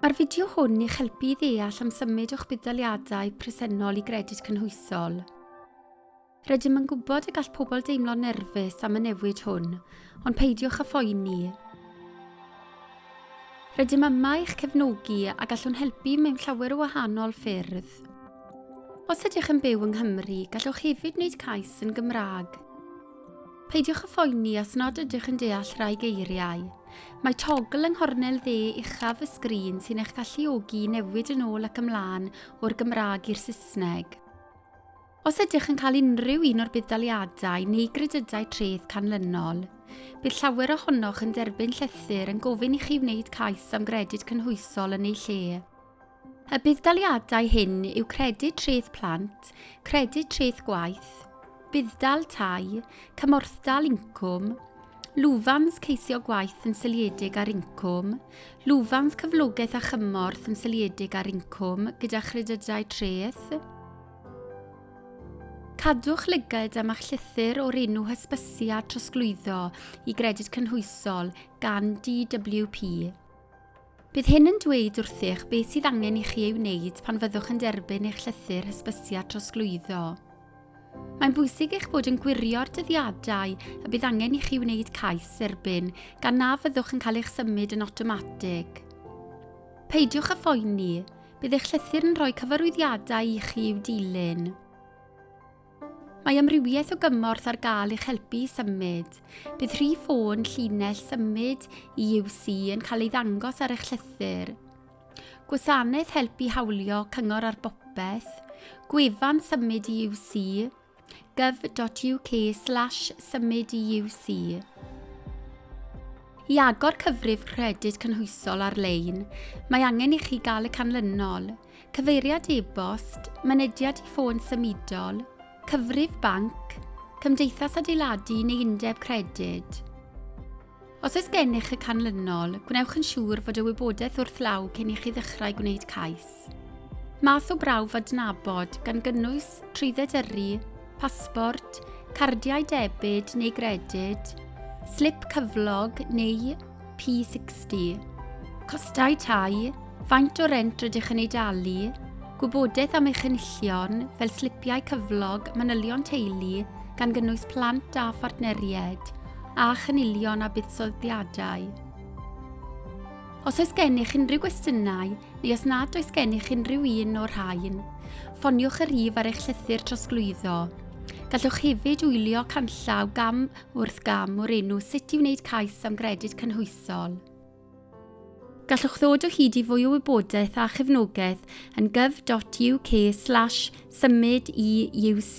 Mae'r fideo hwn i'ch helpu i ddeall am symud o'ch budd-daliadau presennol i gredyd cynhwysol. Rydym yn gwybod y gall pobl deimlo'n nerfus am y newid hwn, ond peidiwch â phoeni. Rydym yma i'ch cefnogi a gallwn helpu mewn llawer o wahanol ffyrdd. Os ydych yn byw yng Nghymru, gallwch hefyd wneud cais yn Gymraeg. Peidiwch â phoeni os nad ydych yn deall rhai geiriau. Mae togl yng nghornel dde uchaf y sgrin sy'n eich galluogi i newid yn ôl ac ymlaen o'r Gymraeg i'r Saesneg. Os ydych yn cael unrhyw un o'r budd-daliadau neu gredydau treth canlynol, bydd llawer ohonoch yn derbyn llythyr yn gofyn i chi wneud cais am gredyd cynhwysol yn eu lle. Y budd-daliadau hyn yw Credyd Treth Plant, Credyd Treth Gwaith, Budd-dal Tai, Cymorthdal Incwm, Lwfans Ceisio Gwaith yn Seiliedig ar Incwm, Lwfans Cyflogaeth a Chymorth yn Seiliedig ar Incwm gyda Chredydau Treth, Cadwch lygad am eich llythyr o'r enw hysbysu a trosglwyddo i Gredyd Cynhwysol gan DWP. Bydd hyn yn dweud wrthych beth sydd angen i chi ei wneud pan fyddwch yn derbyn eich llythyr hysbysiad trosglwyddo. Mae'n bwysig eich bod yn gwirio'r dyddiadau y bydd angen i chi wneud cais dderbyn gan na fyddwch yn cael eich symud yn awtomatig. Peidiwch â phoeni, bydd eich llythyr yn rhoi cyfarwyddiadau i chi i'w dilyn. Mae amrywiaeth o gymorth ar gael i'ch helpu i symud. Bydd rhif ffôn llinell symud i UC yn cael ei ddangos ar eich llythyr. Gwasanaeth helpu hawlio cyngor ar bopeth, gwefan symud i UC, gov.uk slash symud i UC. I agor cyfrif credyd cynhwysol ar-lein, mae angen i chi gael y canlynol – cyfeiriad e-bost, mynediad i ffôn symudol, cyfrif banc, cymdeithas adeiladu neu undeb credyd. Os oes gennych y canlynol, gwnewch yn siŵr fod y wybodaeth wrth law cyn i chi ddechrau gwneud cais. Math o brawf adnabod, gan gynnwys trwydded yrru, pasbort, cardiau debyd neu gredyd, slip cyflog neu P60. Costau tai, faint o rent rydych yn ei dalu, gwybodaeth am eich enillion fel slipiau cyflog manylion teulu gan gynnwys plant a phartneriaid, a chynilion a buddsoddiadau. Os oes gennych unrhyw gwestiynau neu os nad oes gennych unrhyw un o'r rhain, ffoniwch y rhif ar eich llythyr trosglwyddo. Gallwch hefyd wylio canllaw gam Wrth gam o'r enw Sut i wneud cais am gredyd cynhwysol. Gallwch ddod o hyd i fwy o wybodaeth a chefnogaeth yn gov.uk slash symud i UC.